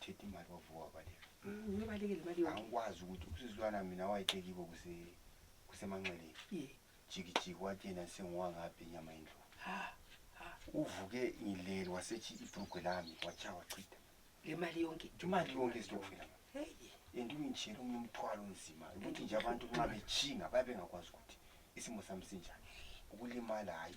Chethi imali wavuka baleka. Mm, Ngibalekile imali yonke. Angikwazi ukuthi usizwana mina wayetekibo kuse kusemanxeleni. Ye. Jikijiki wathi yena sengiwangaphi inyama yendlovu. Ha. Ha. Uvuke ngilele wasethi ibrugwe lami watsha wachitha. Le mali yonke. Imali yonke isitokufela. Hey. Yena ungitshela omunye umthwalo onzima ukuthi nje abantu nxa betshinga babe bengakwazi ukuthi isimo sami sinjani. Ukulimala hayi.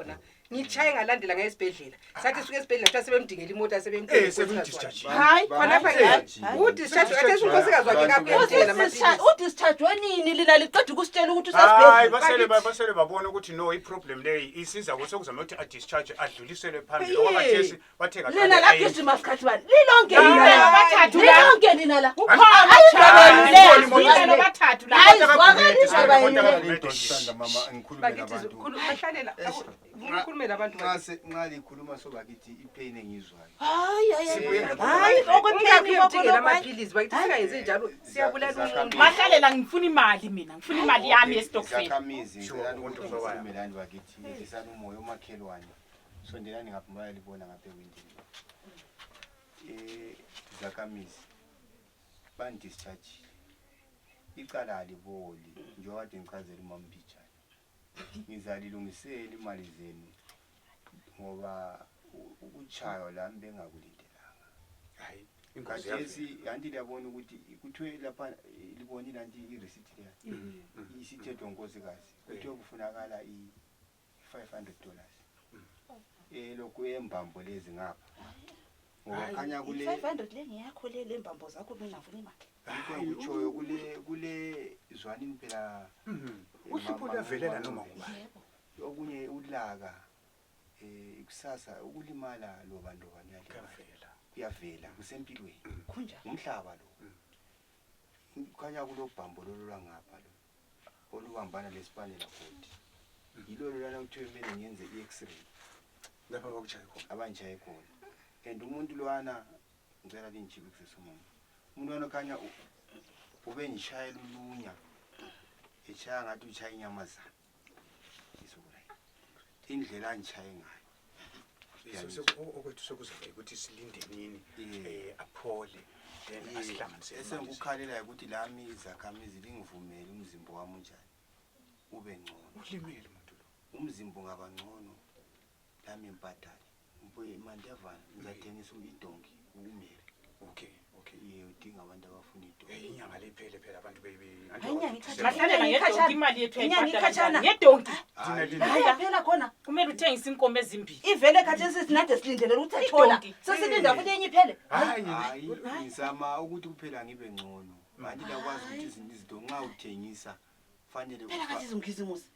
khona ngitshaye ngalandela ngaye esibhedlela sathi suke esibhedlela kuthiwa sebemdingela imota Eh, sebemdingela sebemdischarge. hayi khonapha Hayi. Hayi. udischarge kathi esunkosikazi wakhe kapendela amaphilisi udischargwe nini lina liqeda ukusitshela ukuthi Hayi, usesibhedlela basele ba- basele babona ukuthi no iproblem leyi isiza ko sekuzama ukuthi adischarge adluliselwe phambili Hey. okwakhathesi lina la gijima sikhathi bani lilonke lilonke lina la nxa likhuluma sobakithi ipain engizwayo mahlalela ngifuna imali mina ngifuna imali yami yesitokfela Sondelani ngapha bayalibona ngapha ewindini. Eh zakamizi ban discharge. Icala aliboli njengoba kade ngichazela umama Mbijana. Ngizalilungisela imali zenu ngoba u- ukuchaywa la bengakulindelanga. Hayi, ingozi yakhe. Khathesi yanti liyabona ukuthi kuthiwe lapha eh, libonile anti i-receipt leya isithethwe ngunkosikazi kuthiwe kufunakala i- 500 dollars elokhu eh, embambo lezi ngapha ngoba khanya kule 500 le ngiyakho le lembambo zakho bengafuni imali ngikutshoyo kule kule zwanini phela mhm. eh, uhlupho luyavelela noma ngubani okunye ulaka eh kusasa ukulimala loba ndoba niyakuvela kuyavela kusempilweni kunjani umhlaba lo mm. khanya kulobhambo lolulangapha lo olubambana lesipanela koti yilolo lana kuthiwe kumele ngenze i-x-ray lapha bakutshaye khona abangishaye khona and umuntu lwana ngicela lingijibikisisa umama umuntu lwana khanya ubengishayela ulunya etshaya ngathi utshaya inyamazana indlela angishaye ngayo So- so- o- okwethu sekuzobe ukuthi silinde nini Yeah. um aphole then Ye- asihlanganise imali. esengikukhalelayo ukuthi lami izakhamizi lingivumele umzimba wami unjani ube ngcono ulimele muntu lo umzimba ungaba ngcono lami mpatane Mbuye mandevana ngizathengisa idonki ukumele. Okay, okay. Ye udinga abantu abafuna idonki. Hey inyanga lephele phela abantu baby. Inyanga ikhatshana. Bahlale ngedonki imali yethu inyanga ikhatshana. Ngedonki. Hayi phela khona. Kumele uthengise inkomo ezimbili. Ivele khathesi sinade silindelele ukuthi athola. Sesilinda futhi enye iphele. Hayi ngizama ukuthi kuphela ngibe ngcono. Manje lakwazi ukuthi izinto nxa uthengisa fanele. Phela kathi izimkhizimusi.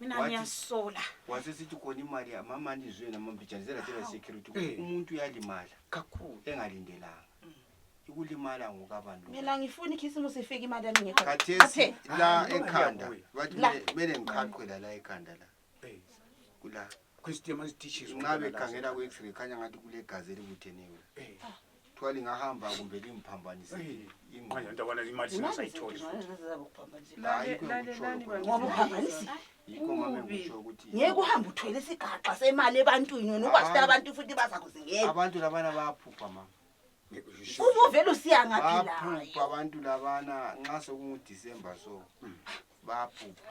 mina Wathi- ngiyasola wase sithi khona imali ya- mamani zwe namambijana zelatela security ukuthi Eh. umuntu uyalimala kakhulu engalindelanga ikulimala ngokabani lo mina ngifuna ikhisimusi ifike imali yami ngekho khathesi Athe, la Hayi, ekhanda ngiyabuya. bathi La. mele- mele ngiqhaqhwe la la ekhanda la Eh, kula christian masitishis nxa bekhangela ku-x-ray khanya ngathi kulegazi elibutheneyo kuthiwa lingahamba kumbe limphambanise ingqondo Ntawana imali singasayitholi futhi. Lale- lale- lale Ngoba bangizwa. uphambanisi yikho mame Kubi. ngisho ukuthi ngeke uhambe uthwele isigaxa semali ebantwini wena ukwazi ukuthi Hayi. abantu futhi bazakuzingela abantu labana bayaphupha mama uba uvele usiya ngaphi layo baphupha abantu labana nxa sekungudisemba so baphupha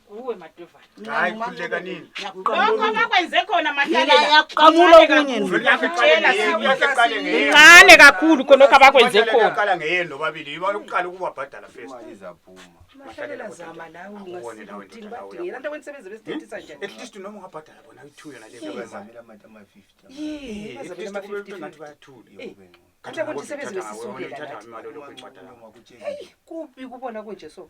uwe madovana hayi khululeka nini lokho abakwenze khona mahlalayaqamula okunye ncane kakhulu khonokho abakwenze khonaqala ngeyeni nobabili yiba lokuqala ukubabhadala first at least noma ungabhadala bona i-two yona leyoathule kubi kubona kunje so